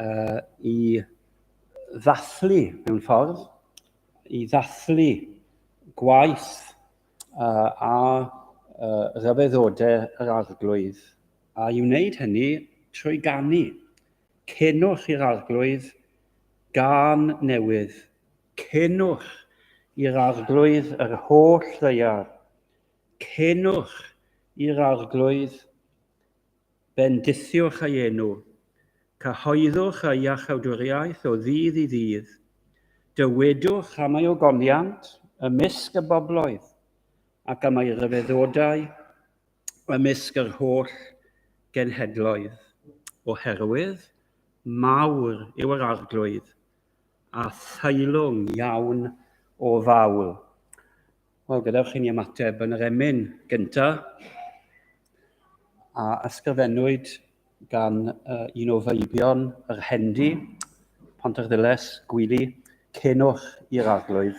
uh, i ddathlu mewn ffordd, i ddathlu gwaith uh, a uh, rhyfeddodau yr arglwydd, a i wneud hynny trwy ganu. Cenwch i'r arglwydd gan newydd. Cenwch i'r arglwydd yr holl ddeiar. Cenwch i'r arglwydd Bendithiwch ei enw. Cyhoeddwch ei iachawdwriaeth o ddydd i ddydd. Dywedwch am ei ogoniant ymysg y bobloedd, ac am ei ryfeddodau ymysg yr holl genhedloedd. Oherwydd mawr yw yr arglwydd, a theilwng iawn o fawl. Wel, gadewch i ni ymateb yn yr emyn gyntaf, a ysgrifennwyd gan uh, un o feibion yr Hendi, Pontarddulais, Gwili, cenwch i'r arglwydd.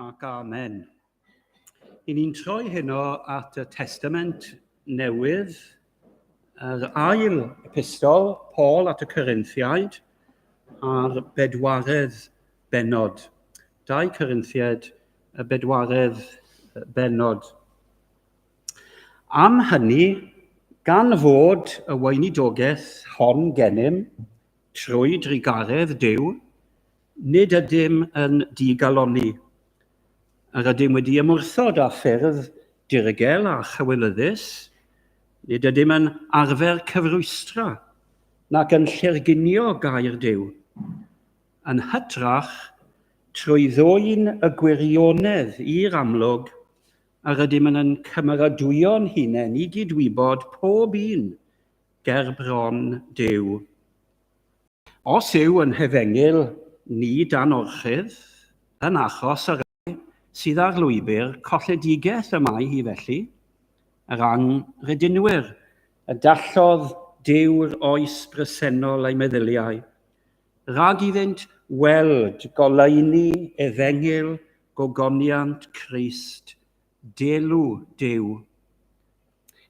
Ac amen. I ni'n troi heno at y testament newydd, yr ail epistol, Paul at y Corinthiaid, a'r bedwaredd benod. Dau Corinthiaid, y bedwaredd benod. Am hynny, gan fod y weinidogaeth hon gennym, trwy drugaredd Dyw, Nid ydym yn digalonni. Yr ydym wedi ymwrthod â ffyrdd dirygel a chywilyddus. Nid ydym yn arfer cyfrwystra nac yn llerginio gair Duw. Yn hytrach, trwy ddwyn y gwirionedd i'r amlwg, yr ydym yn yn cymeradwyo'n hunain i gydwybod pob un gerbron Duw. Os yw yn hefengyl ni dan orchudd, yn achos y rhai sydd ar lwybr colledigaeth y mae hi felly, yr anghredinwyr, y dallodd Duw'r oes bresennol eu meddyliau, rhag iddynt weld goleuni efengyl gogoniant Crist Deilw, Duw.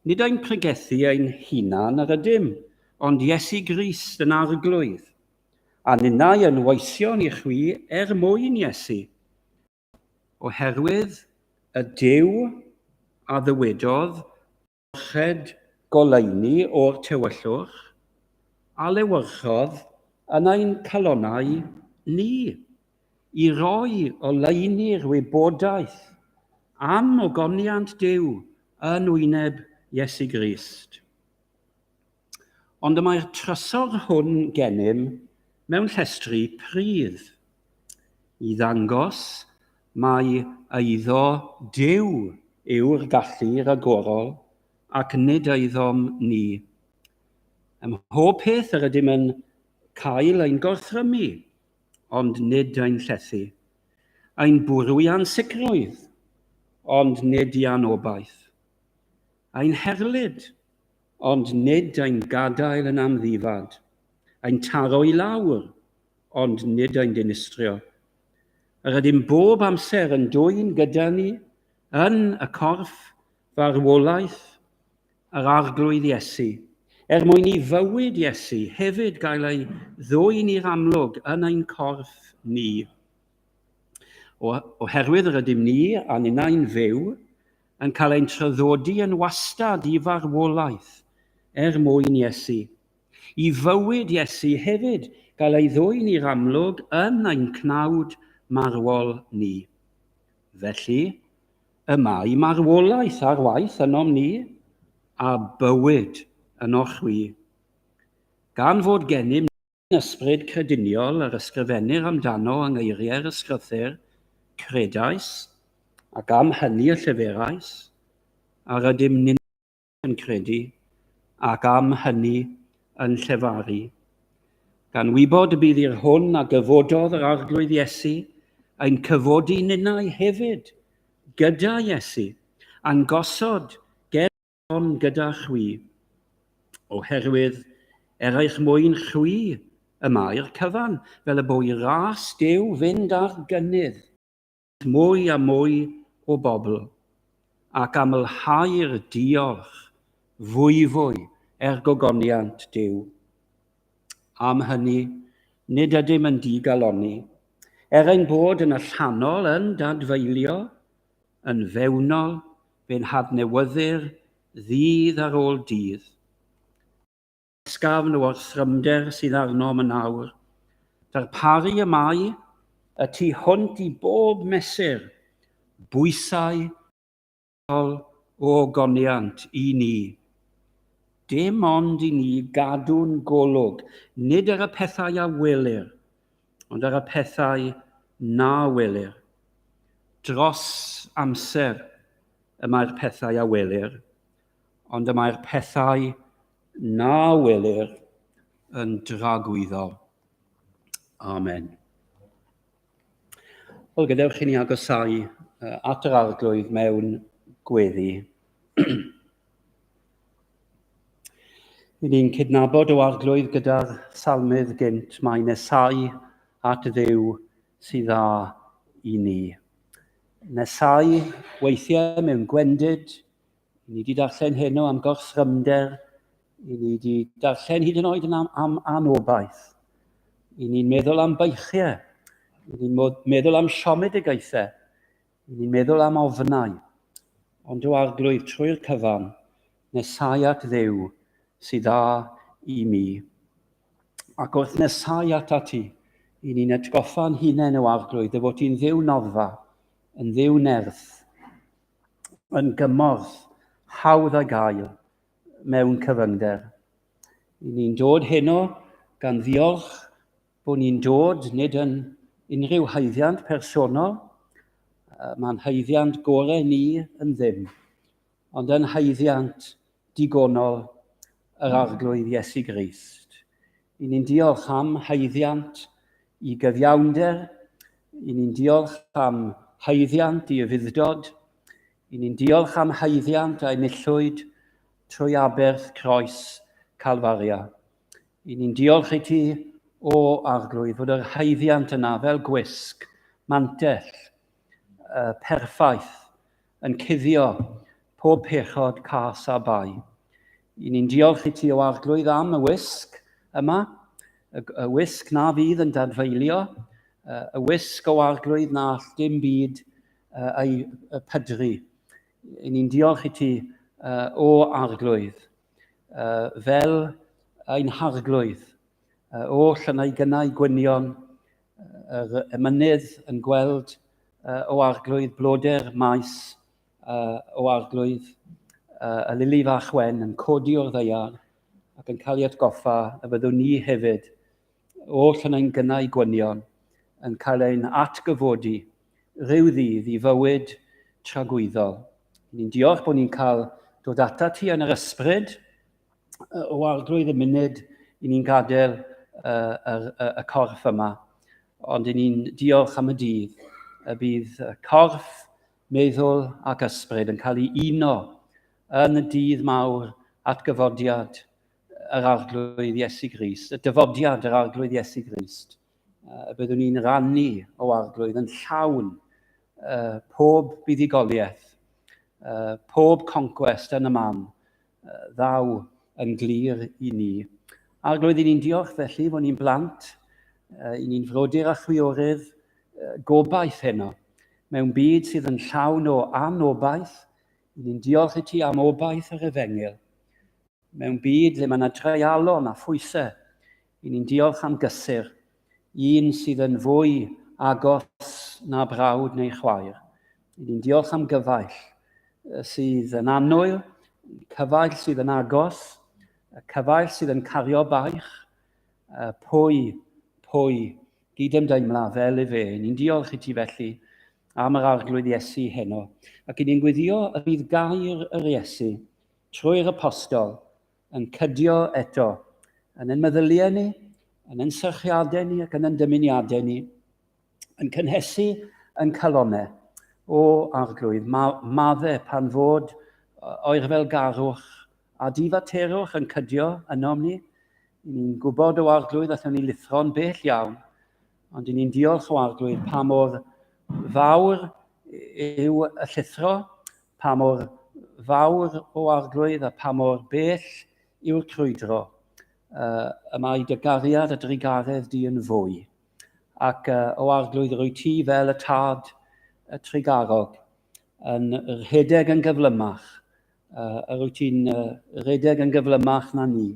Nid ein pregethu ein hunan yr ydym, ond Iesu Grist yn arglwydd, a ninnau yn weision i chwi er mwyn Iesu. Oherwydd y Duw a ddywedodd, merched goleuni o'r tywyllwch a lewyrchodd yn ein calonnau ni i roi oleuni'r wybodaeth am ogoniant Duw yn wyneb Iesu Grist. Ond y mae'r trysor hwn gennym mewn llestri pridd, i ddangos mai eiddo Duw yw'r gallu ragorol, ac nid eiddo'm ni. Ym mhob peth yr ydym yn cael ein gorthrymu, ond nid ein llethu, ein bwrw i ansicrwydd, ond nid i anobaith, ein herlid, ond nid ein gadael yn amddifad, ein taro i lawr, ond nid ein dinistrio. Yr ydym bob amser yn dwyn gyda ni, yn y corff, farwolaeth, yr Arglwydd Iesu, er mwyn i fywyd Iesu hefyd gael ei ddwyn i'r amlwg yn ein corff ni. O, oherwydd yr ydym ni a ninnau'n fyw, yn cael ein traddodi yn wastad i farwolaeth er mwyn Iesu. I fywyd Iesu hefyd gael ei ddwyn i'r amlwg yn ein cnawd marwol ni. Felly, y mae marwolaeth ar waith ynom ni, a bywyd ynoch chwi. Gan fod gennym ni, Ysbryd crediniol yr ysgrifennir amdano yng ngeiriau'r ysgrythur, Credais, ac am hynny y lleferais, a rydym ninnau yn credu, ac am hynny yn llefaru. Gan wybod y bydd i'r hwn a gyfododd yr Arglwydd Iesu ein cyfodi ninnau hefyd gyda Iesu, a'n gosod ger Ond gyda chwi. Oherwydd, er eich mwyn chwi, y mae'r cyfan, fel y bo i ras Duw fynd ar gynnydd. Mwy a mwy o bobl, ac amlhau'r diolch fwyfwy er gogoniant Duw. Am hynny, nid ydym yn digalonni, er ein bod yn allanol yn dadfeilio, yn fewnol fe'n hadnewyddu'r ddydd ar ôl dydd. Ysgafn o'r thrymder sydd arnom yn awr. Darparu y mae y tu hwnt i bob mesur, bwysau ysgol o ogoniant i ni. Dim ond i ni gadw'n golwg, nid ar y pethau a welir, ond ar y pethau na welir. Dros amser y mae'r pethau a welir, ond y mae'r pethau na welir yn dragwyddo. Amen. Wel, gadewch i ni agosau at yr arglwydd mewn gweddi. Rydyn ni'n cydnabod o arglwydd gyda'r salmydd gynt, mae nesau at ddew sydd dda i ni. Nesau weithiau mewn gwendid, i ni wedi darllen heno am gorsrymder, i ni wedi darllen hyd yn oed yn am, am anobaith. I ni'n meddwl am beichiau, i ni'n meddwl am siomedigaethau, Yn ni'n meddwl am ofnau, ond o arglwydd trwy'r cyfan, nesau at ddew sydd dda i mi. Ac wrth nesau at ati, i ni'n atgoffa'n hunain o arglwydd y fod hi'n ddew noddfa, yn ddew nerth, yn gymorth, hawdd a gael, mewn cyfyngder. I ni'n dod heno gan ddiolch bod ni'n dod nid yn unrhyw haeddiant personol, mae'n haeddiant gorau ni yn ddim, ond yn haeddiant digonol yr Arglwydd Iesu Grist. I ni'n diolch am haeddiant i gyfiawnder, i ni'n diolch am haeddiant i ufuddod, i ni'n diolch am haeddiant a'i millwyd trwy aberth croes Calfaria. I ni'n diolch i ti o arglwydd fod yr haeddiant yna fel gwisg, mantell, uh, perffaith, yn cuddio pob pechod cas a bai. I ni'n diolch i ti o arglwydd am y wisg yma, y, y wisg na fydd yn dadfeilio, y wisg o arglwydd na all dim byd ei pydru. I ni'n diolch i ti o arglwydd. uh, fel ein harglwydd, uh, oll yn ei gynnau gwynion, yr uh, emynydd yn gweld uh, o arglwydd bloder maes uh, o arglwydd uh, y lili fach wen yn codi o'r ddeiar ac yn cael ei atgoffa y byddwn ni hefyd oll yn ein gynnau gwynion yn cael ein atgyfodi rhyw ddydd i fywyd tragwyddol. Ni'n diolch bod ni'n cael dod ata ti yn yr ysbryd o arglwydd y munud i ni'n gadael uh, yr, uh, y corff yma. Ond i ni'n diolch am y dydd y bydd corff, meddwl ac ysbryd yn cael ei uno yn y dydd mawr at gyfodiad yr arglwydd Iesu Grist, y dyfodiad yr arglwydd Iesu Grist. y byddwn ni'n rannu o arglwydd yn llawn uh, pob buddugoliaeth, uh, pob conquest yn y man, uh, ddaw yn glir i ni. Arglwydd, i ni'n diolch felly fod ni'n blant, uh, i ni'n frodyr a chwiorydd uh, gobaith heno, mewn byd sydd yn llawn o anobaith, i ni'n diolch i ti am obaith yr efengil. Mewn byd lle mae yna dreialon a phwysau, i ni'n diolch am gysur, un sydd yn fwy agos na brawd neu chwaer. I ni'n diolch am gyfaill sydd yn annwyl, cyfaill sydd yn agos, y cyfaill sydd yn cario baich, pwy, pwy, gydymdeimla fel i fe. Ni'n diolch i ti felly am yr arglwydd Iesu heno, ac i ni'n gwyddio y bydd gair yr Iesu trwy'r apostol, yn cydio eto, yn ein meddyliau ni, yn ein syrchiadau ni ac yn ein dymuniadau ni, yn cynhesu yn calonau. O, arglwydd, ma, madde pan fod o'r fel garwch a difaterwch yn cydio ynom ni, ni'n gwybod o arglwydd allwn ni lithro'n bell iawn, ond i ni'n diolch o arglwydd pa mor fawr yw y llithro Pa mor fawr o arglwydd a pa mor bell yw'r crwydro, uh, y mae dy gariad a drugaredd di yn fwy. Ac uh, o arglwydd rwy ti fel y tad y trigarog, yn rhedeg yn gyflymach, uh, a rwy ti'n uh, rhedeg yn gyflymach na ni.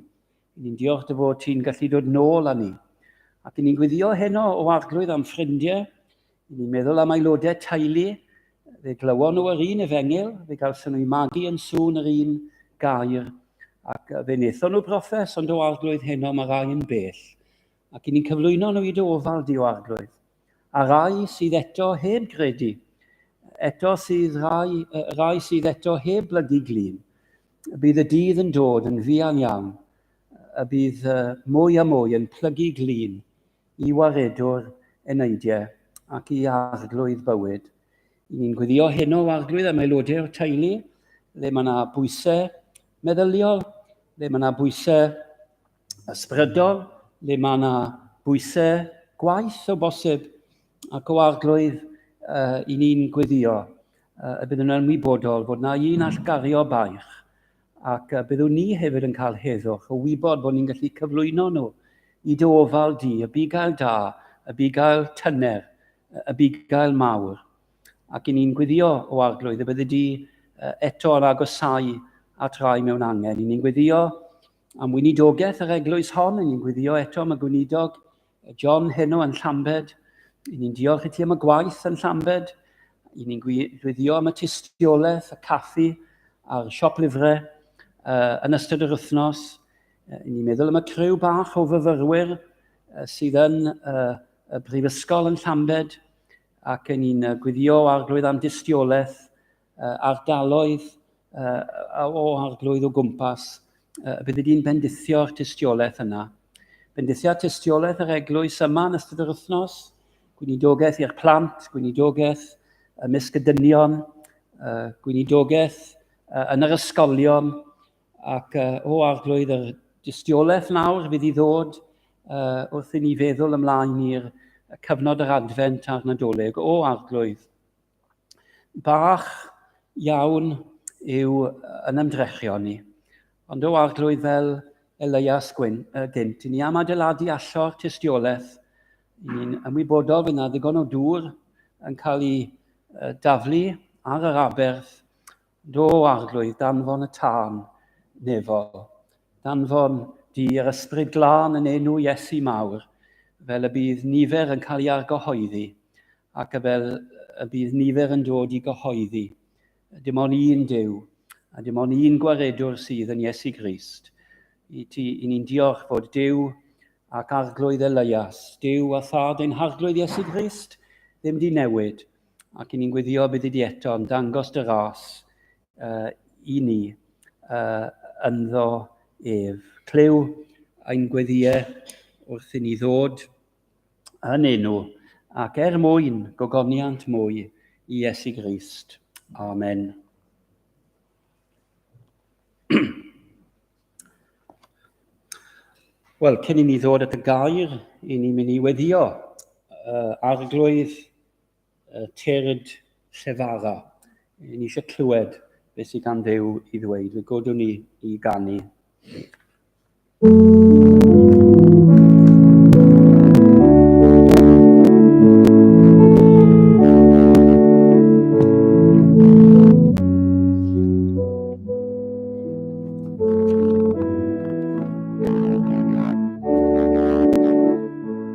Ni'n diolch dy fod ti'n gallu dod nôl â ni. Ac ni'n gwyddio heno o arglwydd am ffrindiau I ni'n meddwl am aelodau teulu, fe glywon nhw yr un efengyl, fe gawson nhw'i magu yn sŵn yr un gair, ac fe wnaethon nhw brofes, ond o arglwydd heno mae rai yn bell, ac i ni'n cyflwyno nhw i dy ofal di o arglwydd. A rai sydd eto heb gredu, eto sydd rai, rai sydd eto heb blygu glin, bydd y dydd yn dod yn fuan iawn, y bydd mwy a mwy yn plygu glin, i waredwr eneidiau ac i arglwydd bywyd. I ni'n gweddio heno o arglwydd am aelodau o'r teulu, le mae yna bwysau meddyliol, le mae yna bwysau ysbrydol, le mae yna bwysau gwaith o bosib, ac o arglwydd uh, i ni'n gweddio uh, y bydd yn ymwybodol fod yna un allgario baich Ac y byddwn ni hefyd yn cael heddwch o wybod bod ni'n gallu cyflwyno nhw i dy ofal di, y bugail da, y bugail tyner, y bugail mawr. Ac i ni'n gwyddio o arglwydd y byddi di eto yn agosau at rai mewn angen. I ni'n gwyddio am wynidogaeth yr eglwys hon, i ni'n gwyddio eto am y gweinidog John heno yn Llambed. I ni'n diolch i ti am y gwaith yn Llambed. I ni'n gwyddio am y tystiolaeth, y caffi a'r siop lyfrau uh, yn ystod yr wythnos. Uh, I ni'n meddwl am y criw bach o fyfyrwyr uh, sydd yn uh, y brifysgol yn Llambed ac i ni'n gwyddio arglwydd am dystiolaeth ardaloedd o arglwydd o gwmpas, bydd wedi'n bendithio'r tystiolaeth yna. Bendithiad tystiolaeth yr eglwys yma yn ystod yr wythnos, gwynidogaeth i'r plant, gwynidogaeth ymysg y dynion, gwynidogaeth yn yr ysgolion, ac o arglwydd yr dystiolaeth nawr fydd i ddod wrth i ni feddwl ymlaen i'r cyfnod yr adfent a'r nadolig o arglwydd. bach iawn yw yn ymdrechion ni. Ond o arglwydd fel Elias Gwyn, uh, gynt, i ni am adeiladu allor tystiolaeth, i ni'n ymwybodol fydd yna ddigon o dŵr yn cael ei uh, daflu ar yr aberth, Do, arglwydd, danfon y tân nefol. Danfon di yr ysbryd glân yn enw Iesu mawr, fel y bydd nifer yn cael ei argyhoeddi, ac y fel y bydd nifer yn dod i gyhoeddi. Dim ond un Duw, a dim ond un gwaredwr sydd yn Iesu Grist. I ti, i ni'n diolch fod Duw ac arglwydd Elias, Duw a thad ein harglwydd Iesu Grist, ddim di newid. ac ni'n gwyddio bydd wedi eto yn dangos dy ras uh, i ni uh, ynddo ef. Clyw ein gweddiau wrth i ni ddod yn enw ac er mwyn gogoniant mwy i Iesu Grist. Amen. Wel, cyn i ni ddod at y gair, i ni mynd i weddio uh, arglwydd y Tyrd Llefara. Ni eisiau clywed beth sydd gan ddew i ddweud. Fe godwn ni i ganu.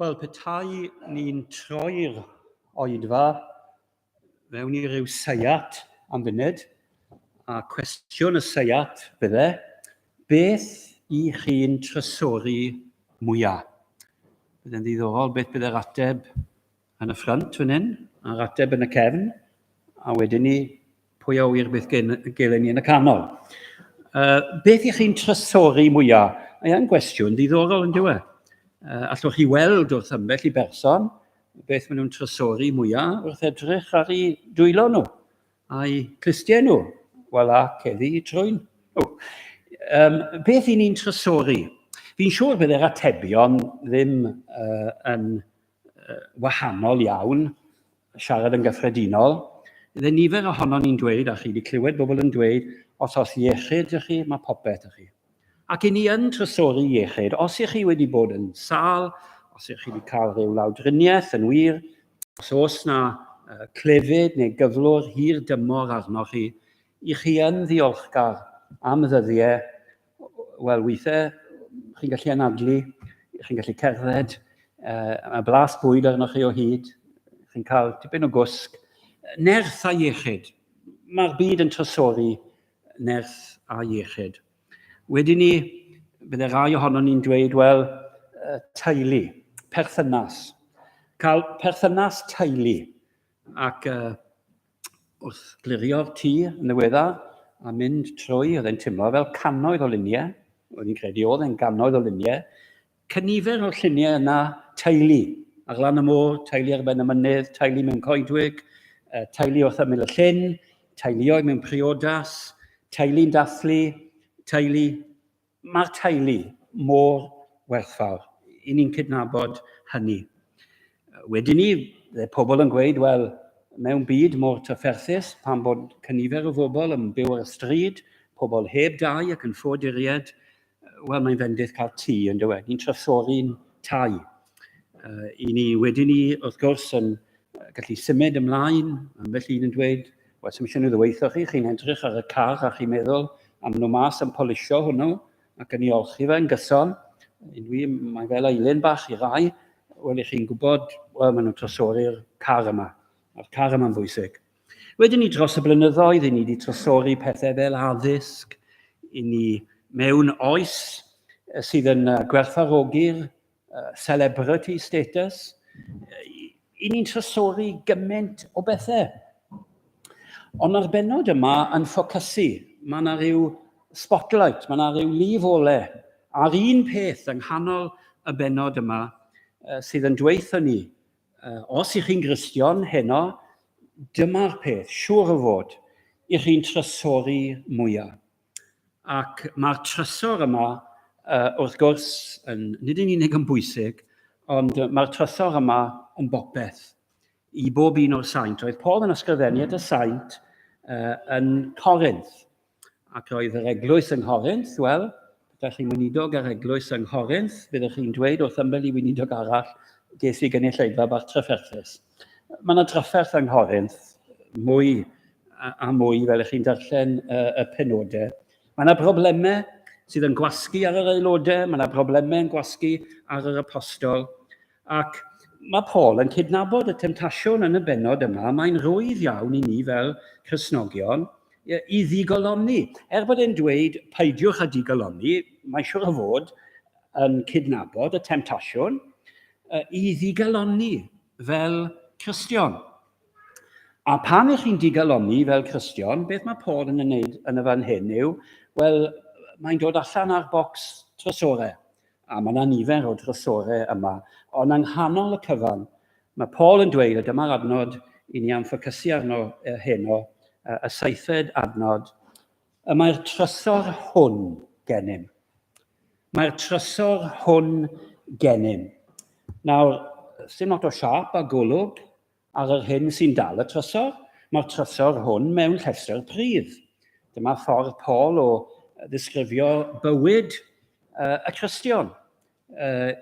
Wel, petai ni'n troi'r oedfa mewn i ryw seiat am funud, a cwestiwn y seiat fydde, beth i chi'n trysori mwyaf? Byddai'n ddiddorol beth bydde'r ateb Yn y ffrynt fan hyn, a'r ateb yn y cefn, a wedyn ni, pwy a wyr beth gelen ni yn y canol. Uh, beth ych chi'n trysori mwyaf? Mae e'n gwestiwn ddiddorol yn diwe. Uh, allwch chi weld wrth ymbell i berson beth maen nhw'n trysori mwyaf wrth edrych ar ei dwylo nhw, a'i clustiau nhw. Wel a, ceddi trwy'n nhw. Um, beth i ni'n trysori? Fi'n siŵr bydd yr atebion ddim uh, yn wahanol iawn, siarad yn gyffredinol. Fydde nifer ohono ni'n dweud, a chi wedi clywed bobl yn dweud, os os iechyd ydych chi, mae popeth ydych chi. Ac i ni yn trysori iechyd, os ych chi wedi bod yn sâl, os ych chi wedi cael rhyw lawdriniaeth yn wir, os oes na clefyd neu gyflwr hir dymor arnoch chi, i chi yn ddiolchgar am ddyddiau Wel, weithiau chi'n gallu anadlu, chi'n gallu cerdded, uh, mae blas bwyd arnoch chi o hyd, chi'n cael tipyn o gwsg, nerth a iechyd. Mae'r byd yn trysori nerth a iechyd. Wedyn ni, bydde rai ohono ni'n dweud, wel, teulu, perthynas. Cael perthynas teulu. Ac uh, wrth glirio'r tŷ yn ddiweddar a mynd trwy, oedd e'n teimlo fel cannoedd o luniau, oedd hi'n credu oedd e'n gannoedd o luniau, cynifer o'r lluniau yna teulu ar lan y môr, teulu ar ben y mynydd, teulu mewn coedwig, uh, teulu wrth ymyl y llyn, teuluoedd mewn priodas, teulu'n dathlu, teulu Mae'r teulu mor werthfawr. I ni'n cydnabod hynny. Wedyn ni, dde pobl yn gweud, wel, mewn byd mor trafferthus, pan bod cynifer o fobl yn byw ar y stryd, pobl heb dai ac yn ffoduried, wel, mae'n fendith cael tŷ, yn dywe. Ni'n trysori'n tai. Uh, I ni wedyn ni, wrth gwrs, yn gallu symud ymlaen, ambell un yn dweud, Wel, sy'n eisiau nhw ddyweithio chi, chi'n edrych ar y car a chi'n meddwl am nhw mas yn polisio hwnnw ac yn ei olchi fe yn gyson. I mi, mae fel ailun bach i rai, wel, i chi'n gwybod, wel, maen nhw'n trosori'r car yma, a'r car yma'n bwysig. Wedyn ni dros y blynyddoedd, i ni wedi trosori pethau fel addysg, i ni mewn oes sydd yn gwerthfarogi'r uh, celebrity status. I ni'n trysori gymaint o bethau. Ond mae'r benod yma yn ffocysu. Mae yna rhyw spotlight, mae yna rhyw lif ole ar un peth yng nghanol y benod yma uh, sydd yn dweithio ni, uh, os ych chi'n gristion heno, dyma'r peth, siŵr o fod, i chi'n trysori mwyaf. Ac mae'r trysor yma, uh, wrth gwrs, yn, nid yn unig yn bwysig, ond mae'r trysor yma yn bopeth i bob un o'r saint. Roedd Paul yn ysgrifennu at y saint uh, yn Corinth, ac roedd yr eglwys yng Nghorinth, wel, Da chi'n weinidog ar eglwys yng Nghorinth, byddwch chi'n dweud wrth ymwneud i weinidog arall, ges i gynulleidfa bach trafferthus. Mae yna drafferth yng Nghorinth, mwy a mwy fel ych chi'n darllen y penodau. Mae yna broblemau sydd yn gwasgu ar yr aelodau, mae yna broblemau yn gwasgu ar yr apostol, ac mae Paul yn cydnabod y temtasiwn yn y benod yma, mae'n rwydd iawn i ni fel Cresnogion i ddigolonni. Er bod e'n dweud peidiwch â digolonni, mae'n siwr o fod yn cydnabod y temtasiwn, i ddigalonni fel Cristion. A pan ych chi'n digalonni fel Cristion, beth mae Paul yn ymwneud yn y fan hyn yw, wel, mae'n dod allan ar bocs trysorau, a mae yna nifer o drysorau yma, ond yng nghanol y cyfan, mae Paul yn dweud, a dyma'r adnod i ni am ffocysu arno heno, y seithfed adnod, Y mae'r trysor hwn gennym. Mae'r trysor hwn gennym. Nawr, sy'n lot o siap a golwg ar yr hyn sy'n dal y trysor. Mae'r trysor hwn mewn llestr pridd. Dyma ffordd Paul o ddisgrifio bywyd y Cristion. Uh,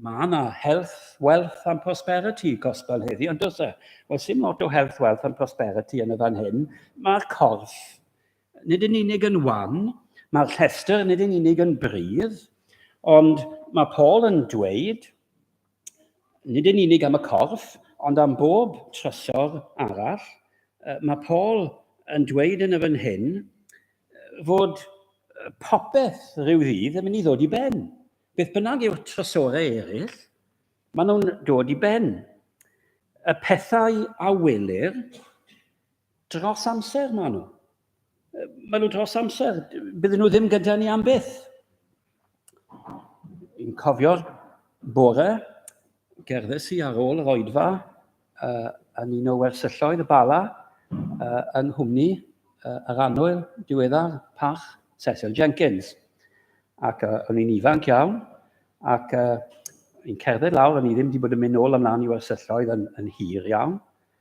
mae yna health, wealth and prosperity gospel heddi, ond does e? Wel, sy'n lot o health, wealth and prosperity yn y fan hyn. Mae'r corff nid yn unig yn wan, mae'r llestr nid yn unig yn brydd, ond mae Paul yn dweud, Nid yn unig am y corff, ond am bob trysor arall. Mae Paul yn dweud yn y fan hyn fod popeth rhyw ddydd yn mynd i ddod i ben. Beth bynnag yw'r trysorau eraill, maen nhw'n dod i ben. Y pethau a welir dros amser maen nhw. Maen nhw dros amser, bydden nhw ddim gyda ni am byth. Yn cofio bore, gerddes i ar ôl yr oedfa uh, yn un o wersylloedd y bala uh, yng nghwmni uh, yr anwyl diweddar pach Cecil Jenkins. Ac uh, o'n i'n ifanc iawn, ac uh, i'n cerdded lawr, o'n i ddim wedi bod yn mynd nôl ymlaen i wersylloedd yn, yn hir iawn,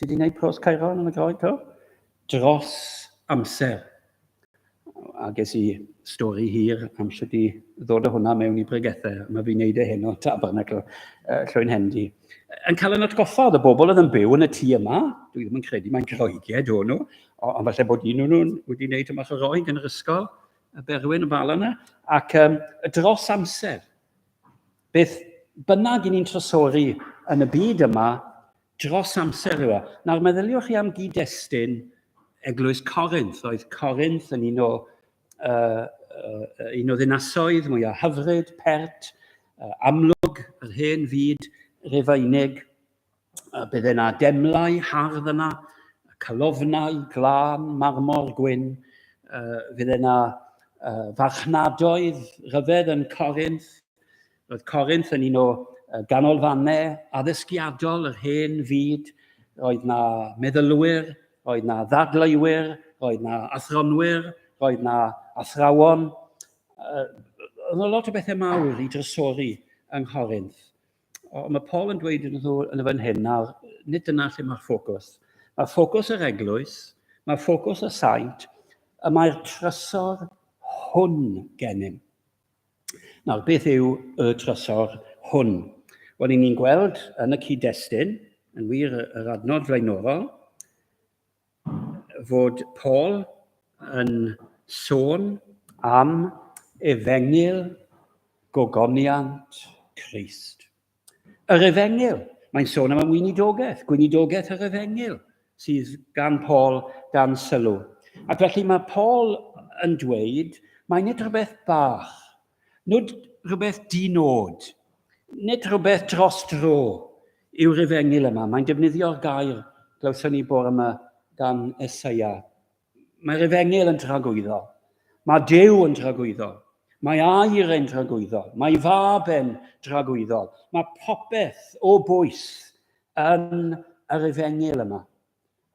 Ti di wneud pros Caeron yn y Groeg to? Dros amser. A ges i stori hir am sut i ddod o hwnna mewn i bregethau. Mae fi'n neud e heno, tabernacl, uh, llwy'n hendi. Yn cael yn atgoffa oedd y bobl oedd yn byw yn y tŷ yma, dwi ddim yn credu mae'n Groeged o'n nhw, ond falle bod un o'n nhw'n wedi wneud yma o roi yn yr ysgol, y berwyn y bal yna, ac um, dros amser, beth bynnag i ni'n trysori yn y byd yma, Dros amser rhywa. Nawr meddyliwch chi am gyd-destun Eglwys Corinth. Oedd Corinth yn un o, uh, uh, un o ddinasoedd mwyaf hyfryd, pert, uh, amlwg yr hen fyd Rufeinig. Uh, bydde yna demlau hardd yna, calofnau, glân, marmor, gwyn. Uh, fydde yna uh, farchnadoedd rhyfedd yn Corinth. Roedd Corinth yn un o ganolfannau addysgiadol yr hen fyd. Roedd na meddylwyr, roedd na ddadleuwyr, roedd na athronwyr, roedd na athrawon. Oedd na lot o bethau mawr i drysori yng Nghorinth. Ond mae Paul yn dweud yn nhw yn y fan hyn, nawr, nid dyna lle mae'r ffocws. Mae ffocws yr eglwys, mae ffocws y saint, y mae'r trysor hwn gennym. Nawr, beth yw y trysor hwn? Wel, i ni'n gweld yn y cyd-destun, yn wir yr adnod flaenorol, fod Paul yn sôn am efengyl gogoniant Christ. Yr Efengyl, mae'n sôn am y weinidogaeth, gweinidogaeth yr Efengyl, sydd gan Paul dan sylw. Ac felly mae Paul yn dweud, mae nid rhywbeth bach, nid rhywbeth dinod, nid rhywbeth dros dro yw'r Efengyl yma. Mae'n defnyddio'r gair, glywson ni bore yma gan Esaia, Mae'r efengyl yn tragwyddo. Mae Duw yn tragwyddo. Mae air yn tragwyddo. Mae fab yn tragwyddo. Mae popeth o bwys yn yr efengyl yma.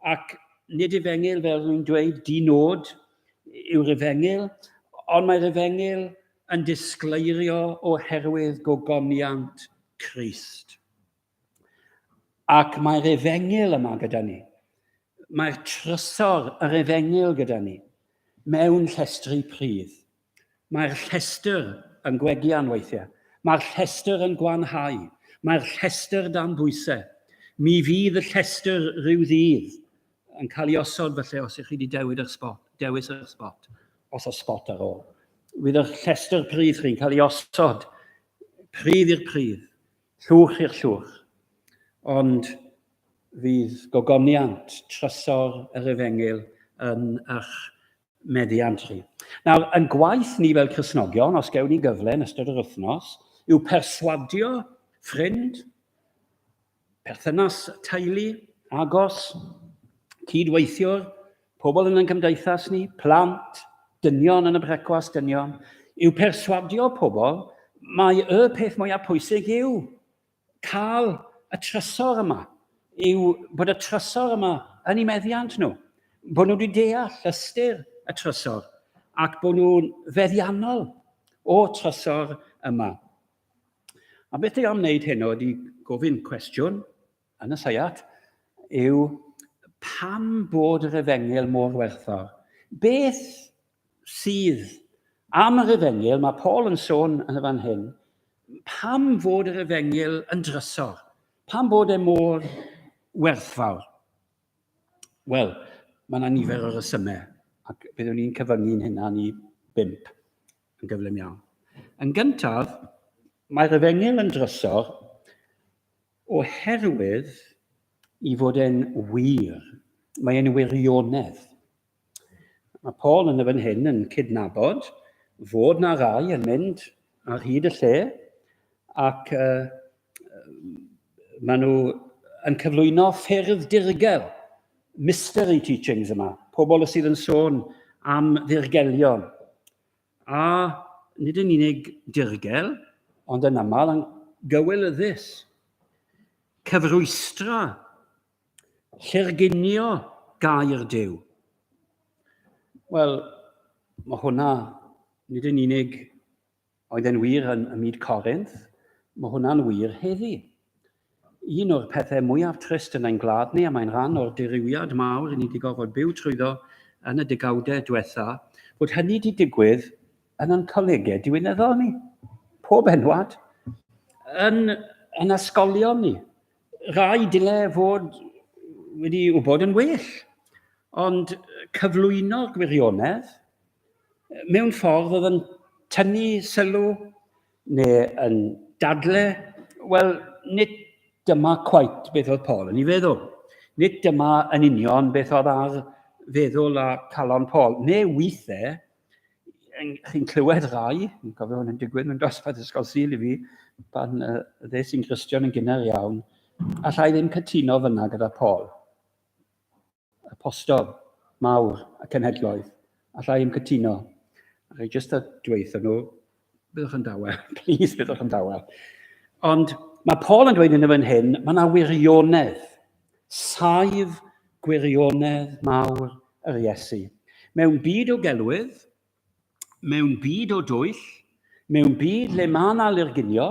Ac nid efengyl fel rwy'n dweud, di nod yw'r efengyl, ond mae'r efengyl yn disgleirio oherwydd gogoniant Christ. Ac mae'r efengyl yma gyda ni. Mae'r trysor, yr efengyl gyda ni, mewn llestri pridd. Mae'r llestr yn gwegian weithiau. Mae'r llestr yn gwanhau. Mae'r llestr dan bwysau. Mi fydd y llestr rhyw ddydd yn cael ei osod felly os ych chi wedi dewid yr spot, dewis yr spot, os oes spot ar ôl. Fydd yr llestr pridd chi'n cael ei osod pridd i'r pridd. Llwch i'r llwch. Ond fydd gogoniant trysor yr efengyl yn ych meddiant chi. Nawr, yn gwaith ni fel Cristnogion, os gewn ni gyfle yn ystod yr wythnos, yw perswadio ffrind, perthynas teulu, agos, cydweithiwr, pobl yn ein cymdeithas ni, plant, dynion yn y brecwast dynion, yw perswadio pobl mae y peth mwyaf pwysig yw cael y trysor yma, yw bod y trysor yma yn ei meddiant nhw, bod nhw wedi deall ystyr y trysor ac bod nhw'n feddiannol o trysor yma. A beth dwi am wneud heno ydy gofyn cwestiwn Yn y seiat yw pam bod yr efengyl mor werthfawr. Beth sydd am yr efengyl, mae Paul yn sôn yn y fan hyn, pam fod yr efengyl yn drysor, pam bod e mor werthfawr. Wel, mae yna nifer o resymau, ac byddwn ni'n cyfyngu'n hynna ni bimp yn gyflym iawn. Yn gyntaf, mae'r efengyl yn drysor Oherwydd, i fod yn wir, mae e'n wirionedd. Mae Paul yn y fan hyn yn cydnabod fod na rai yn mynd ar hyd y lle ac uh, maen nhw yn cyflwyno ffyrdd dirgel, mystery teachings yma, pobl sydd yn sôn am ddirgelion. A nid yn unig dirgel, ond yn aml yn gywilyddus. Cyfrwystra, llurgunio gair Duw. Wel, mae hwnna nid yn unig oedd e'n wir yn y myd Corinth, mae hwnna'n wir heddi. Un o'r pethau mwyaf trist yn ein gwlad ni, a mae'n rhan o'r dirywiad mawr i ni 'di gorfod byw trwyddo yn y degawdau diwetha', fod hynny 'di digwydd yn ein colegau diwinyddol ni, pob enwad, yn yn ysgolion ni. Rai dyle fod wedi wybod yn well, ond cyflwyno'r gwirionedd mewn ffordd oedd yn tynnu sylw Neu yn dadle, Wel, nid dyma cwait beth oedd Paul yn ei feddwl. Nid dyma yn union beth oedd ar feddwl a calon Paul. Neu weithiau, chi'n clywed rai, yn cofio hwn yn digwydd mewn dosbarth ysgol syl i fi, pan uh, dde sy'n Gristion yn gynnar iawn, allai ddim cytuno fyna gyda Paul. y postor mawr y cenhedloedd. Alla i'm cytuno. A rhaid jyst dweud nhw, byddwch yn dawel, please byddwch yn dawel. Ond mae Paul yn dweud yn y fan hyn, mae yna wirionedd, saif gwirionedd mawr yr Iesu. Mewn byd o gelwydd, mewn byd o dwyll, mewn byd lle mae yna lurgunio,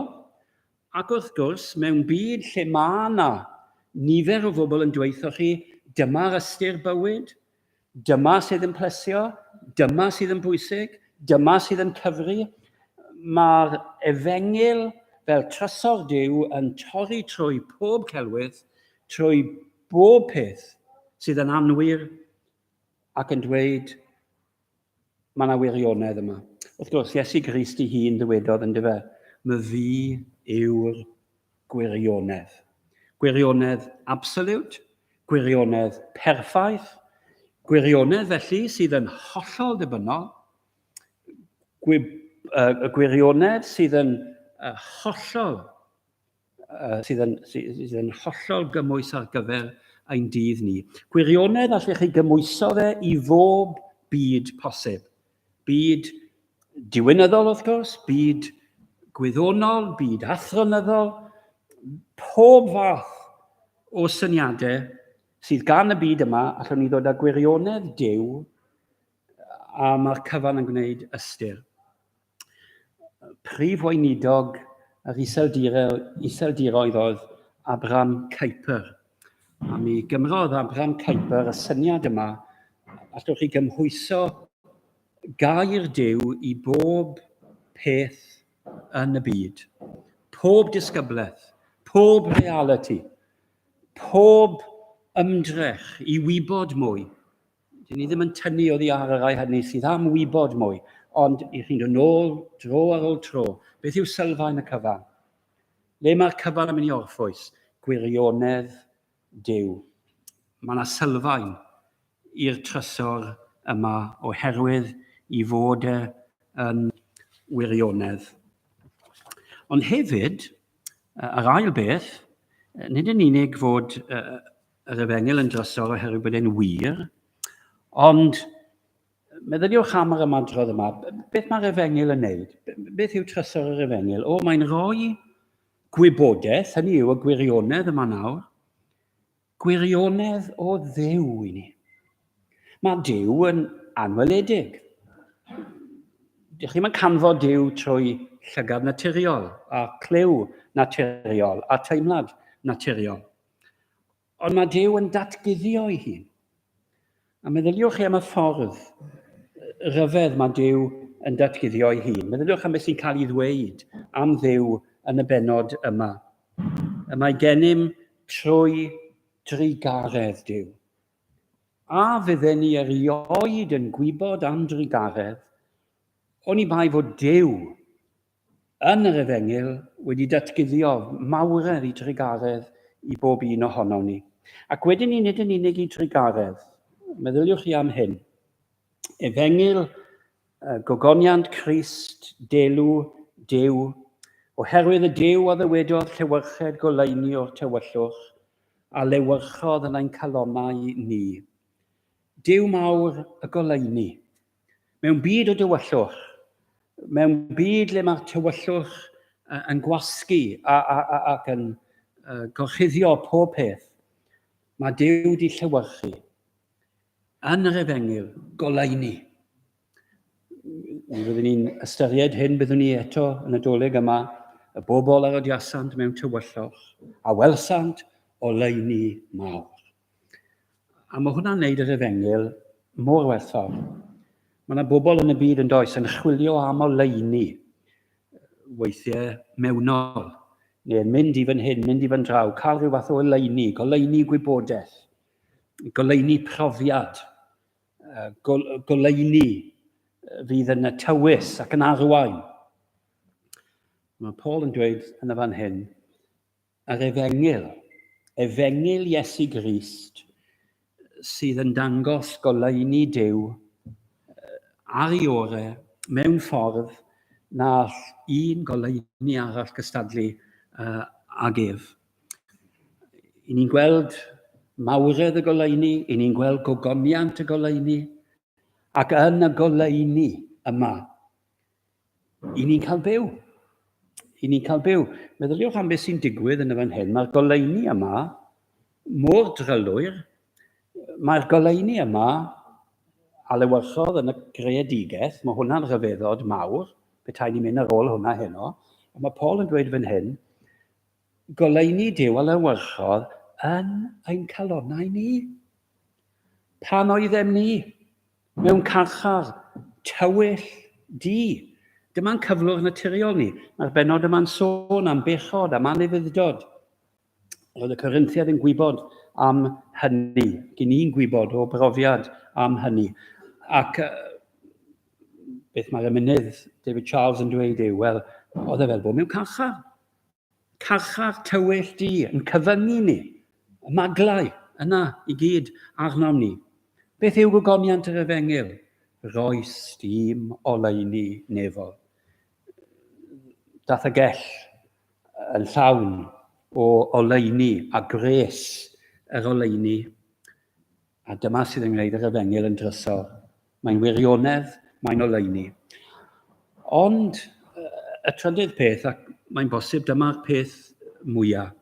ac wrth gwrs, mewn byd lle mae yna nifer o bobl yn dweithio chi, dyma'r ystyr bywyd, dyma sydd yn plesio, dyma sydd yn bwysig, dyma sydd yn cyfri, mae'r efengyl fel trysor Duw yn torri trwy pob celwydd, trwy bob peth sydd yn anwir ac yn dweud Mae yna wirionedd yma. Wrth gwrs, Iesu Grist i hun ddywedodd yn dyfe, my fi yw'r gwirionedd. Gwirionedd absolute, gwirionedd perffaith, gwirionedd felly sydd yn hollol ddibynnol, gwi, uh, gwirionedd sydd yn uh, hollol uh, sydd, yn, sydd yn hollol gymwys ar gyfer ein dydd ni. Gwirionedd allech chi gymwyso fe i fob byd posib. Byd diwynyddol, wrth gwrs, byd gwyddonol, byd athronyddol, pob fath o syniadau sydd gan y byd yma, allwn ni ddod â gwirionedd dew a mae'r cyfan yn gwneud ystyr. Prif Weinidog yr Iseldiroedd oedd Abram Kuyper. A mi gymrodd Abram Kuyper y syniad yma, allwch chi gymhwyso gair Duw i bob peth yn y byd, pob disgyblaeth, pob reality, pob ymdrech i wybod mwy, Dyn ni ddim yn tynnu oddi ar y rhai hynny sydd am wybod mwy, ond i chi'n dod nôl dro ar ôl tro, beth yw sylfaen y cyfan? Le mae'r cyfan yn mynd i orffwys? Gwirionedd Duw. Mae yna sylfaen i'r trysor yma oherwydd i fod e yn wirionedd. Ond hefyd, yr ail beth, nid yn unig fod yr efengyl yn drysor oherwydd bod e'n wir, ond meddyliwch am yr ymadrodd yma, beth mae'r efengyl yn neud? Beth yw trysor yr efengyl? O, mae'n rhoi gwybodaeth, hynny yw y gwirionedd yma nawr, gwirionedd o ddew i ni. Mae dew yn anweledig. Dych chi'n canfod dew trwy llygad naturiol, a clyw naturiol, a teimlad naturiol. Ond mae Dyw yn datguddio ei hun. A meddyliwch chi am y ffordd rhyfedd mae Dyw yn datguddio ei hun. Meddyliwch am beth sy'n cael ei ddweud am Dduw yn y benod yma. Y mae gennym trwy drugaredd Dyw. A fydden ni erioed yn gwybod am drugaredd, oni bai fod Dyw Yn yr Efengyl wedi datguddio mawredd i drugaredd i bob un ohonom ni. Ac wedyn ni nid yn unig i drugaredd. Meddyliwch chi am hyn. Efengyl, gogoniant Crist, delw, Duw, oherwydd y Duw a ddywedodd llewyrched goleuni o'r tywyllwch, a lewyrchodd yn ein calonnau ni. Duw mawr y goleuni. Mewn byd o dywyllwch, mewn byd le mae tywyllwch yn gwasgu ac yn gorchuddio pob peth, mae Duw di llewyrchu yn yr efengyl goleuni. Mi fyddwn ni'n ystyried hyn byddwn ni eto yn y doleg yma, y bobl a rodiasant mewn tywyllwch, a welsant oleuni mawr. A mae hwnna'n neud yr efengyl mor werthfawr. Mae yna bobl yn y byd yn does yn chwilio am oleuni weithiau mewnol, neu yn mynd i fan hyn, mynd i fan draw, cael rhyw fath o oleuni, goleuni gwybodaeth, goleuni profiad, goleuni fydd yn y tywys ac yn arwain. Mae Paul yn dweud yn y fan hyn, A'r efengyl, efengyl Iesu Grist, sydd yn dangos goleuni Duw ar ei ore mewn ffordd na all un goleuni arall gystadlu uh, ag ef. I ni'n gweld mawredd y goleuni, i ni'n gweld gogoniant y goleuni, ac yn y goleuni yma, I ni'n cael byw. I ni'n cael byw. Meddyliwch am beth sy'n digwydd yn y fan hyn. Mae'r goleuni yma mor drylwyr. Mae'r goleuni yma a lewyrchodd yn y greadigaeth, mae hwnna'n rhyfeddod mawr, petai ni'n mynd ar ôl hwnna heno. A mae Paul yn dweud fan hyn, Goleuni Duw a lewyrchodd yn ein calonnau ni. Pan oeddem ni mewn carchar tywyll du, dyma'n cyflwr naturiol ni. Mae'r benod yma'n sôn am bechod, am anufudd-dod. Roedd y Corinthiad yn gwybod am hynny. Gyn ni'n gwybod o brofiad am hynny. Ac beth mae'r emynydd David Charles yn dweud yw, wel, oedd e fel bod mewn carchar. Carchar tywyll di yn cyfyngu ni, y maglau yna i gyd arnom ni. Beth yw gogoniant yr efengyl? Roes dim oleuni nefol. Dath y gell yn llawn o oleuni a gwres yr oleuni. A dyma sydd yn gwneud yr efengyl yn drysor. Mae'n wirionedd, mae'n oleuni. Ond y trydydd peth, ac mae'n bosib dyma'r peth mwyaf,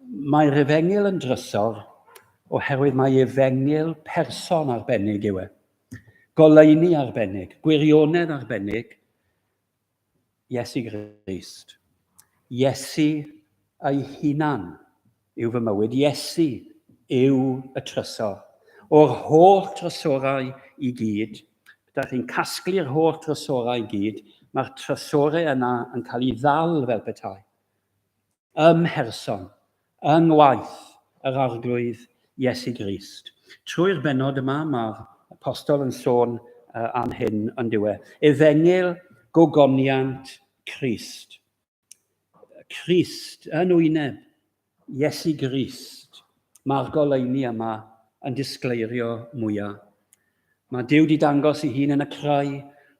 mae'r efengyl yn drysor oherwydd mae efengyl person arbennig yw e. Goleuni arbennig, gwirionedd arbennig, Iesu Grist. Iesu ei hunan yw fy mywyd. Iesu yw y trysor. O'r holl trysorau i gyd, ydych chi'n casglu'r holl trysorau i gyd, mae'r trysorau yna yn cael ei ddal fel petai. ym mherson, yng ngwaith yr Arglwydd Iesu Grist. Trwy'r bennod yma, mae'r Apostol yn sôn am hyn, yn dywe. Efengyl gogoniant Crist. Crist yn wyneb Iesu Grist. Mae'r goleuni yma yn disgleirio mwyaf. Mae Duw di dangos ei hun yn y crai,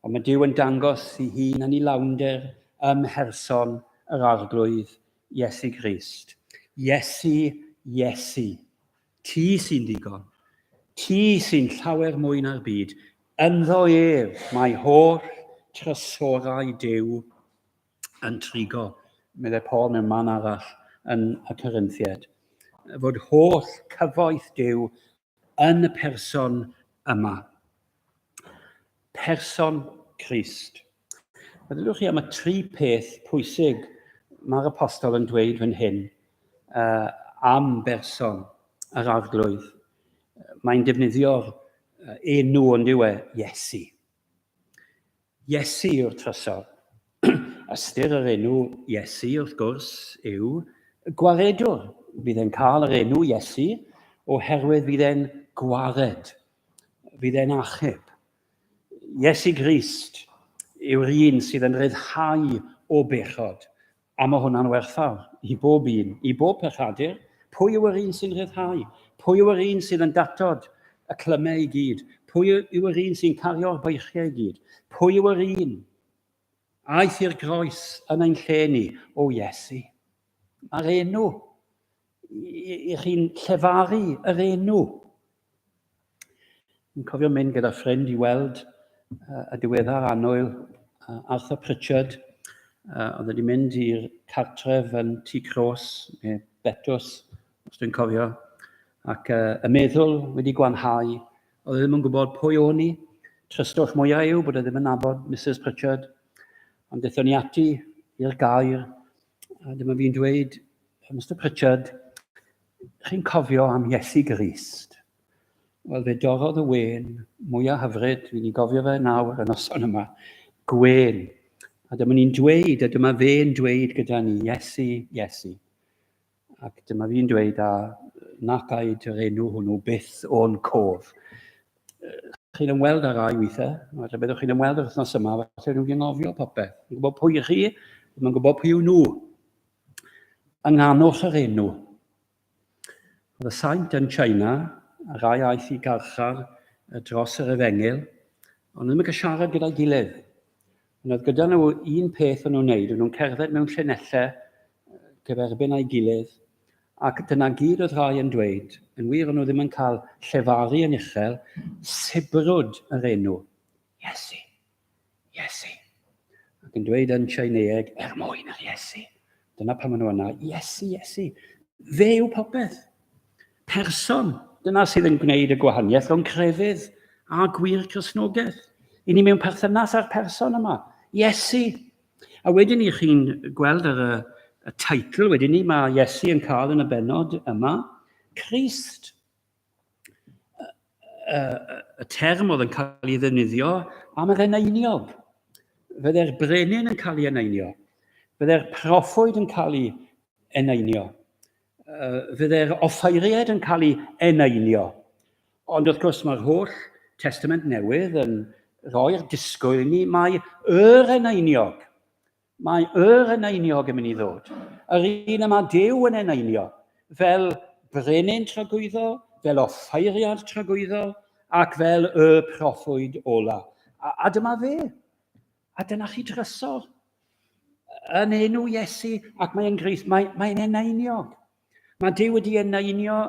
ond mae Duw yn dangos ei hun yn ei lawnder ym mherson yr Arglwydd, Iesu Grist. Iesu, Iesu, ti sy'n ddigon. Ti sy'n llawer mwy na'r byd. Ynddo ef mae holl trysorau Duw yn trigo, meddai Paul mewn man arall yn y Corinthiaid. Fod holl cyfoeth Duw yn y person yma. Person Christ. Meddylwch chi am y tri peth pwysig mae'r apostol yn dweud fan hyn uh, am berson yr arglwydd. Mae'n defnyddio'r enw ond yw e Iesu. Iesu yw'r trysor. Ystyr yr enw Iesu, wrth gwrs, yw gwaredwr. Bydd e'n cael yr enw Iesu oherwydd bydd e'n gwared. Bydd e'n achub. Iesu Grist yw'r un sydd yn rhyddhau o bechod A mae hwnna'n werthfawr i bob un, i bob pechadur. Pwy yw yr un sy'n rhyddhau? Pwy yw yr un sydd yn datod y clymau i gyd? Pwy yw yr un sy'n cario'r beichiau i gyd? Pwy yw yr un aeth i'r groes yn ein lle ni? O Iesu! Mae'r enw i, i chi'n llefaru yr enw. Yn cofio mynd gyda ffrind i weld uh, y diweddar annwyl uh, Arthur Pritchard. Uh, oedd wedi mynd i'r cartref yn Tŷ Cros, neu Betws, os dwi'n cofio. Ac uh, y meddwl wedi gwanhau, oedd e ddim yn gwybod pwy o'n i. Trystwch mwyaf yw bod e ddim yn nabod Mrs Pritchard. Ond dethon ni ati i'r gair, a dyma fi'n dweud, Mr Pritchard, Chi'n cofio am Iesu Grist? Wel, fe dorrodd y wen mwyaf hyfryd, dwi'n ei gofio fe nawr y noson yma, gwen. A dyma ni'n dweud, a dyma fe'n dweud gyda ni, Iesu, Iesu. Ac dyma fi'n dweud, a nac aed yr enw hwnnw byth o'n cof. Chi'n ymweld ar rai weithiau, falle byddwch chi'n ymweld yr wythnos yma, falle rwy'n gynghofio popeth. Yn gwybod pwy chi, mae'n gwybod pwy yw nhw. Ynghanwch yr enw. Roedd y saint yn China, a rai aeth i garchar dros yr efengyl, ond ddim yn cael siarad gyda'i gilydd. Ond oedd gyda nhw un peth o'n nhw'n wneud, o'n nhw'n cerdded mewn llinellau gyferbyn a'i gilydd, ac dyna gyd oedd rhai yn dweud, yn wir o'n nhw ddim yn cael llefaru yn uchel, sibrwd yr enw, Iesu. Iesu. Ac yn dweud yn Tsieineeg, er mwyn yr Iesu. Dyna pam maen nhw yna, Iesu, Iesu. Fe yw popeth. Person, dyna sydd yn gwneud y gwahaniaeth rhwng crefydd a gwir Cresnogaeth. I ni mewn perthynas â'r person yma, Iesu. A wedyn ni chi'n gweld ar y, y teitl wedyn ni, mae Iesu yn cael yn y benod yma, Christ. y, y term oedd yn cael ei ddefnyddio am yr eneiniog. Fydde'r brenin yn cael ei eneinio. Fydde'r profwyd yn cael ei eneinio. Fydde'r offairiaid yn cael ei eneinio. Ond wrth gwrs mae'r holl testament newydd yn rhoi'r disgwyl i ni mai yr eneiniog Mae yr eneiniog yn mynd i ddod, yr un y mae Dyw yn eneinio, fel brenin tragwyddol, fel offeiriad tragwyddol, ac fel y proffwyd ola. A, a dyma fe. A dyna chi drysor. Yn enw Iesu, ac mae'n greith, mae'n mae eneiniog. Mae Dyw wedi eneinio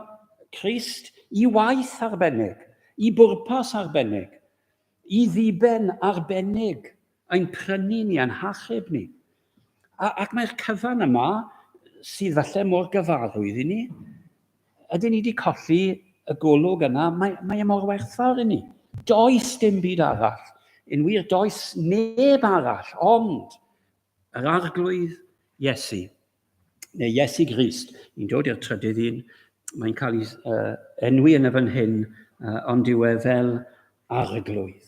Christ i waith arbennig, i bwrpas arbennig, i ddiben arbennig. ein prynu ni a'n hachub ni. A, ac mae'r cyfan yma, sydd falle mor gyfarwydd i ni, ydyn ni wedi colli y golwg yna, mae, mae e mor werthfawr i ni. Does dim byd arall. Yn wir, does neb arall, ond yr arglwydd Iesu. neu Iesu Grist, yn dod i'r trydydd un, mae'n cael ei uh, enwi yn y fan hyn, uh, ond yw e fel arglwydd.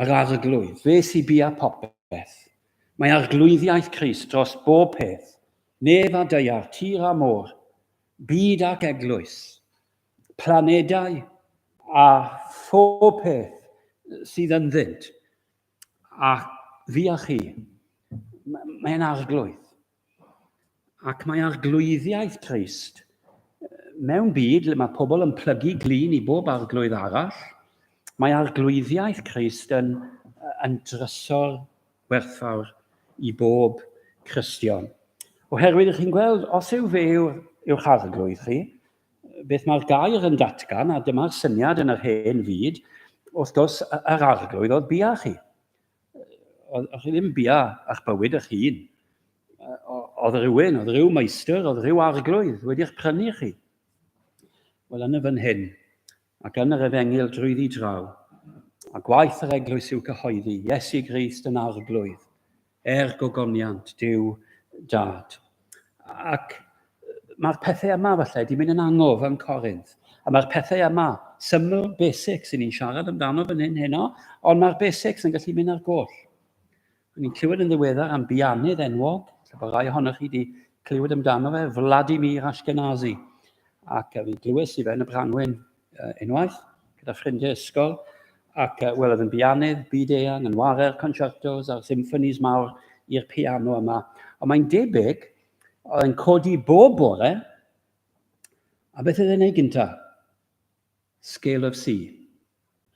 Yr arglwydd, fe sy'n bia popeth. Mae arglwyddiaeth Christ dros bob peth, nef a deiar, tir a môr, byd ac eglwys, planedau a phob peth sydd ynddynt. A fi a chi, mae'n arglwydd. Ac mae arglwyddiaeth Christ mewn byd lle mae pobl yn plygu glin i bob arglwydd arall, mae arglwyddiaeth Christ yn, yn drysor werthfawr i bob Cristion. Oherwydd, ych chi'n gweld, os yw fe yw'ch arglwydd chi, beth mae'r gair yn datgan, a dyma'r syniad yn yr hen fyd, wrth gwrs, yr arglwydd oedd bia chi. Oedd chi ddim bia a'ch bywyd eich hun. Oedd rhywun, oedd rhyw meistr, oedd rhyw arglwydd wedi'ch prynu chi. Wel, yn y fan hyn, ac yn yr efengyl drwyddi draw, a gwaith yr eglwys yw cyhoeddi Iesu Grist yn arglwydd, er gogoniant Duw Dad. Ac mae'r pethau yma falle wedi mynd yn angof yn Corinth, a mae'r pethau yma, syml, basics, sy'n ni'n siarad amdano fan hyn heno, ond mae'r basics yn gallu mynd ar goll. O'n ni'n clywed yn ddiweddar am bianydd enwog, lle bod rhai ohonoch chi wedi clywed amdano fe, Vladimir Ashkenazi. Ac uh, fi'n glywes i fe yn y Branwyn uh, unwaith, gyda ffrindiau ysgol, ac uh, wel, oedd yn bianydd, byd eang, yn ware'r concertos a'r symffonies mawr i'r piano yma. Ond mae'n debyg, oedd yn codi bob bore, a beth oedd e'n ei gyntaf? Scale of C.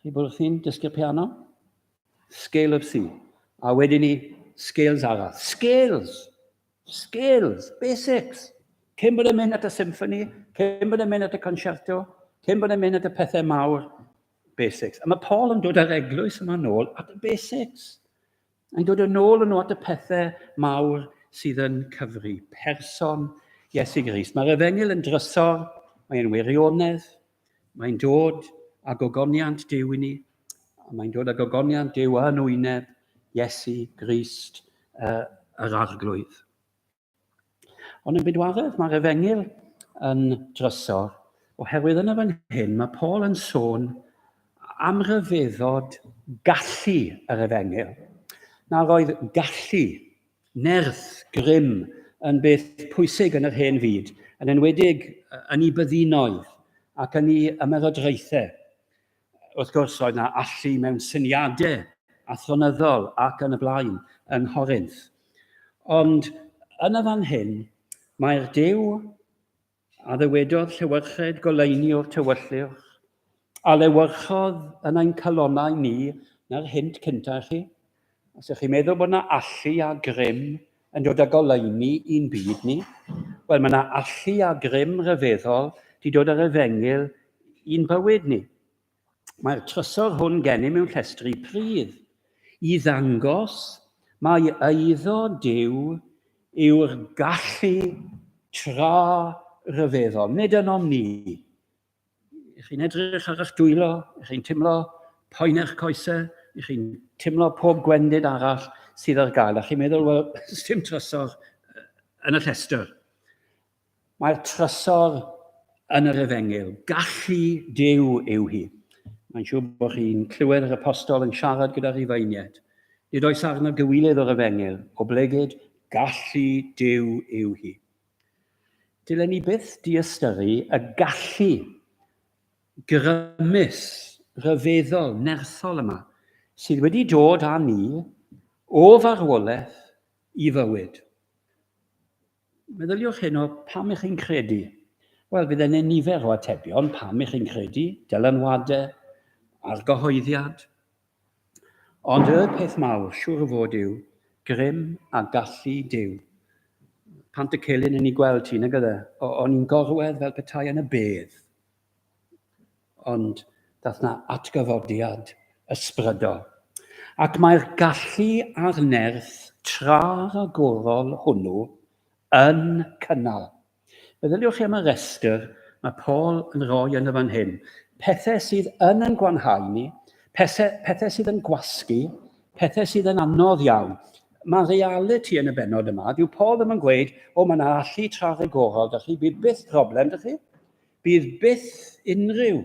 Chi bod wrth i'n dysgu'r piano? Scale of C. A wedyn ni, scales arall. Scales! Scales! Basics! Cyn bod yn mynd at y symphony, cyn bod yn mynd at y concerto, cyn bod yn mynd at y pethau mawr, basics. A mae Paul yn dod ar eglwys yma nôl at y basics. Yn dod yn ôl yn at y pethau mawr sydd yn cyfri, person Iesu Grist. Mae'r efengyl yn drysor, mae'n wirionedd, mae'n dod a gogoniant Dyw i ni, a mae'n dod a gogoniant Dyw yn wyneb Iesu Grist uh, yr arglwydd. Ond yn bydwaddedd, mae'r efengyl yn drysor, oherwydd yn y fan hyn mae Paul yn sôn am ryfeddod gallu yr efengyl. Nawr oedd gallu, nerth, grym yn beth pwysig yn yr hen fyd, yn enwedig yn ei byddinoedd ac yn ei ymerodraethau. Wrth gwrs, oedd na allu mewn syniadau athronyddol ac yn y blaen yn Horinth. Ond yn y fan hyn, mae'r Dyw a ddywedodd llewyrched goleini o'r tywylliwch, a lewyrchodd yn ein calonau ni na'r hynt cyntaf chi, Os ydych chi'n meddwl bod yna allu a grym yn dod â goleuni i'n byd ni, wel mae yna allu a grym rhyfeddol di dod â'r efengyl i'n bywyd ni. Mae'r trysor hwn gennym mewn llestri pridd i ddangos mai eiddo Duw yw'r gallu tra rhyfeddol, nid ynom ni. Ych chi'n edrych ar eich dwylo, ych chi'n teimlo poen eich coesau, ych chi'n teimlo pob gwendid arall sydd ar gael, a chi'n meddwl, wel, dim trysor yn y llestr. Mae'r trysor yn yr efengyl. Gallu Dyw yw hi. Mae'n siŵr bod chi'n clywed yr apostol yn siarad gyda rhifeiniaid. Nid oes arno gywilydd o'r efengyl, oblegid, gallu Dyw yw hi. Dylen ni byth diystyru y gallu grymus, rhyfeddol, nerthol yma sydd wedi dod â ni o farwolaeth i fywyd. Meddyliwch hyn o pam ych chi'n credu. Wel, bydd yna nifer o atebion pam ych chi'n credu, dylanwadau, argyhoeddiad, Ond y peth mawr, siŵr o fod, yw grym a gallu Duw. Pant y celyn yn ei gweld ti, nag ydde? O'n i'n gorwedd fel petai yn y bedd. Ond dath na atgyfodiad ysbrydol. Ac mae'r gallu a'r nerth tra-ragorol hwnnw yn cynnal Meddyliwch chi am y rhestr mae Paul yn rhoi yn y fan hyn. Pethau sydd yn yn gwanhau ni, pethau, pethau sydd yn gwasgu, pethau sydd yn anodd iawn. Mae reality yn y benod yma, dyw Paul ddim yn gweud, o mae yna allu tra rhagorol, da chi, bydd byth problem, da chi? Bydd byth unrhyw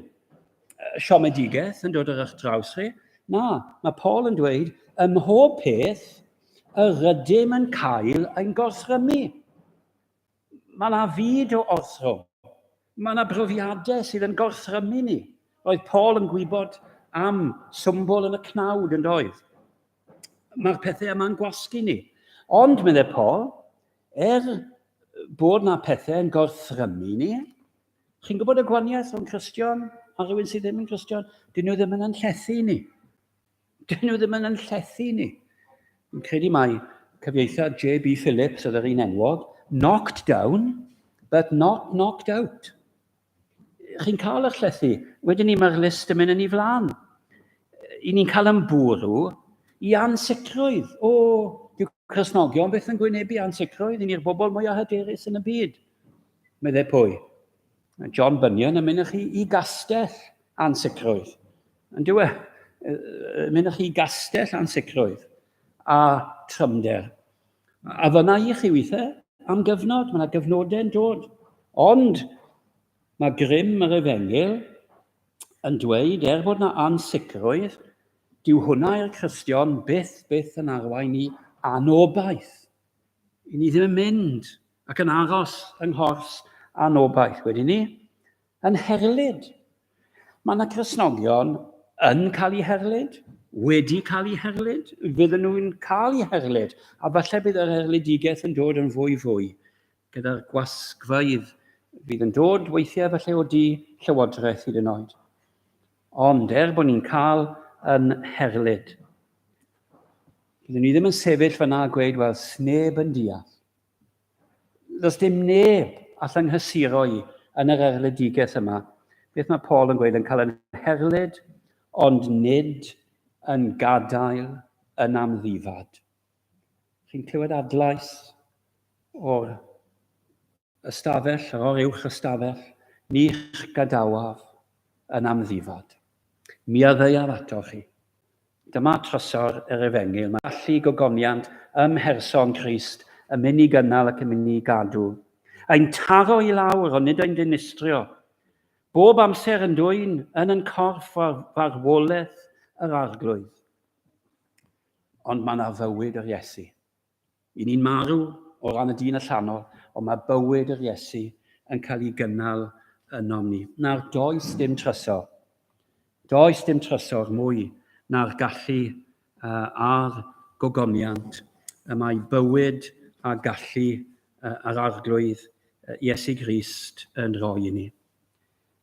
siomedigaeth yn dod ar eich draws chi? Na, mae Paul yn dweud, ym mhob peth, yr ydym yn cael ein gorthrymu. Mae yna fyd o ortho. Mae yna brofiadau sydd yn gorthrymu ni. Roedd Paul yn gwybod am swmbol yn y cnawd yn doedd. Mae'r pethau yma'n gwasgu ni. Ond, meddai Paul, er bod yna pethau yn gorthrymu ni, chi'n gwybod y gwaniaeth o'n Cristion a rhywun sydd ddim yn Cristion, dyn nhw ddim yn anllethu ni. Dyn nhw ddim yn yn llethu ni. Yn credu mai cyfieithiad J.B. Phillips oedd yr un enwog, knocked down, but not knocked out. Chi'n cael eich llethu, wedyn ni mae'r list yn mynd yn ei flaen. I ni'n cael yn bwrw i ansicrwydd. O, dyw Cresnogion beth yn gwynebu ansicrwydd, i ni'r bobl mwyaf hyderus yn y byd. Meddai pwy? John Bunyan yn mynd i chi i gastell ansicrwydd. Yn dywe, mynych chi gastell ansicrwydd a trymder. A fyna i chi weithiau am gyfnod, mae yna gyfnodau yn dod. Ond mae grym yr efengil yn dweud, er bod yna ansicrwydd, dyw hwnna i'r Cristion byth, byth yn arwain i anobaith. I ni ddim yn mynd ac yn aros yng nghors anobaith, wedi ni? Yn herlid. Mae yna Gristnogion yn cael eu herlid, wedi cael eu herlid, fydden nhw'n cael eu herlid, a falle bydd yr erlidigaeth yn dod yn fwy fwy gyda'r gwasgfeydd fydd yn dod weithiau falle o du llywodraeth hyd yn oed. Ond er bod ni'n cael yn herlid, byddwn ni ddim yn sefyll fyna a gweud, wel, sneb yn deall. Does dim neb all nghysuro i yn yr erledigaeth yma. Beth mae Paul yn gweud yn cael yn herlid, ond nid yn gadael yn amddifad. Chi'n clywed adlais o'r ystafell, yr o'r uwch ystafell, ni'ch gadawaf yn amddifad. Mi addeuaf ato chi, Dyma trysor yr Efengyl, mae gallu gogoniant ym mherson Crist yn mynd i gynnal ac yn mynd i gadw. Ein taro i lawr, ond nid ein dinistrio. Bob amser yn dwyn yn yn corff far, farwolaeth yr arglwydd. Ond mae yna fywyd yr Iesu. I ni'n marw o ran y dyn allanol, ond mae bywyd yr Iesu yn cael ei gynnal ynom ni. Nawr, does dim trysor. Does dim trysor mwy na'r gallu a'r gogoniant y mae bywyd a gallu a'r Arglwydd Iesu Grist yn rhoi i ni.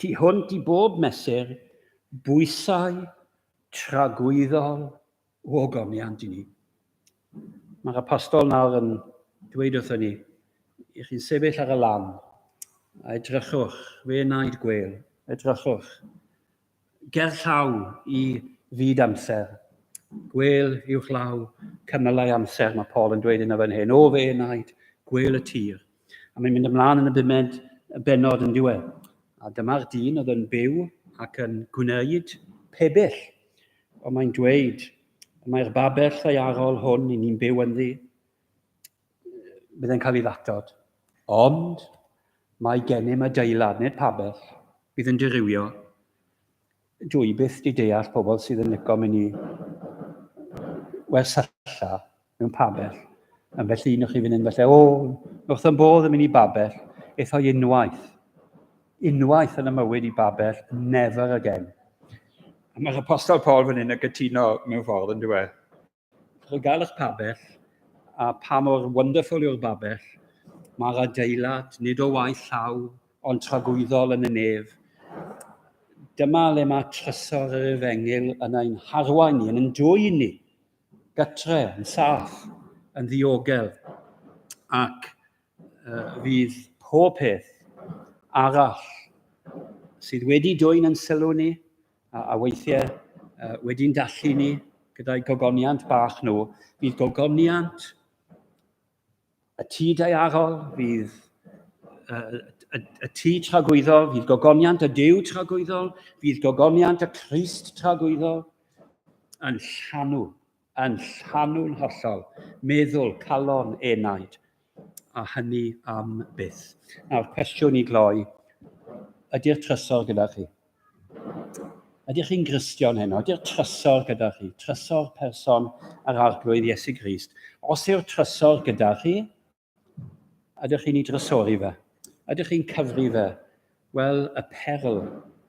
Tu hwnt i bob mesur, bwysau tragwyddol o ogoniant i ni. Mae'r apostol nawr yn dweud wrthyn ni, i chi'n sefyll ar y lan, a edrychwch, fe wnaed gwel, edrychwch, gerllaw i fyd amser. Gwêl uwchlaw cymylau amser, mae Paul yn dweud yna fan hyn. O fe wnaed gwêl y tir. A mae'n mynd ymlaen yn y bumed y benod yn diwedd. A dyma'r dyn oedd yn byw ac yn gwneud pebyll. Ond mae'n dweud, mae'r babell ddaearol hwn i ni'n byw ynddi, bydd yn cael ei ddatod. Ond mae gennym adeilad, nid pabell, bydd yn dirywio. Dwi i byth di deall pobl sydd yn licio mynd i wersylla mewn pabell. Yn felly, nwch chi fynd yn felly, o, nwch yn bodd yn mynd i babell, eitho unwaith. Unwaith yn y mywyd i babell, never again. Mae'r apostol Paul fan hyn yn gytuno mewn ffordd, yn dweud. Chi'n gael eich pabell, a pa mor wonderful yw'r babell. Mae'r adeilad, nid o waith llaw, ond tragwyddol yn y nef. Dyma le mae trysor yr efengyl yn ein harwain ni, yn yn dwy'n ni, gytre, yn saff, yn ddiogel, ac uh, fydd pob peth arall sydd wedi dwy'n yn sylw ni, A, a weithiau, uh, wedi'n dallu ni gyda'i gogoniant bach nhw, fydd gogoniant y tŷ daearol, fydd uh, y, y tŷ tragwyddol, fydd gogoniant y dew tragwyddol, fydd gogoniant y Christ tragwyddol yn llanw Yn llanw'n hollol, meddwl, calon, enaid, a hynny am byth. Nawr, cwestiwn i gloi, ydy'r trysor gyda chi? Ydych chi'n Gristion heno? Ydy'r trysor gyda chi? Trysor person yr Arglwydd Iesu Grist. Os yw'r trysor gyda chi, Ydych chi'n ei drysori fe? Ydych chi'n cyfri fe? Wel, y perl,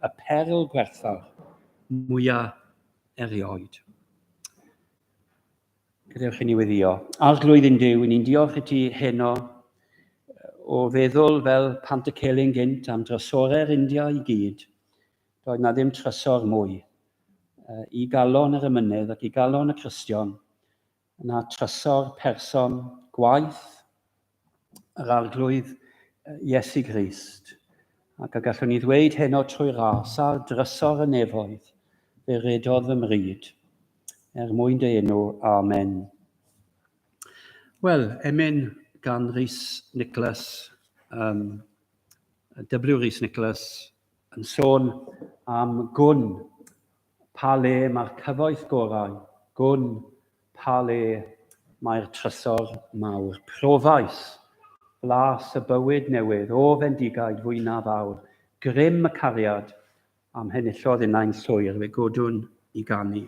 y perl gwerthfawr mwyaf erioed. Gadewch i ni weddio. Arglwydd yn Dyw, ni'n diolch i ti heno o feddwl fel pant y celyn gynt am drysorau'r India i gyd. Doedd na ddim trysor mwy i galon yr ymynedd ac i galon y Cristion Yna trysor person gwaith yr Arglwydd Iesu Grist, ac y gallwn ni ddweud heno trwy ras ar drysor y nefoedd, fe redodd fy mryd, er mwyn dy enw, amen. Wel, emyn gan Rhys Nicholas, um, W. Rhys Nicholas, yn sôn am gwn Pa le mae'r cyfoeth gorau? Gwn. Pa le mae'r trysor mawr? Profais. Blas y bywyd newydd, o fendigaid fwynaf aur, grym y cariad, a m'henillodd innau'n llwyr, fe godwn i ganu.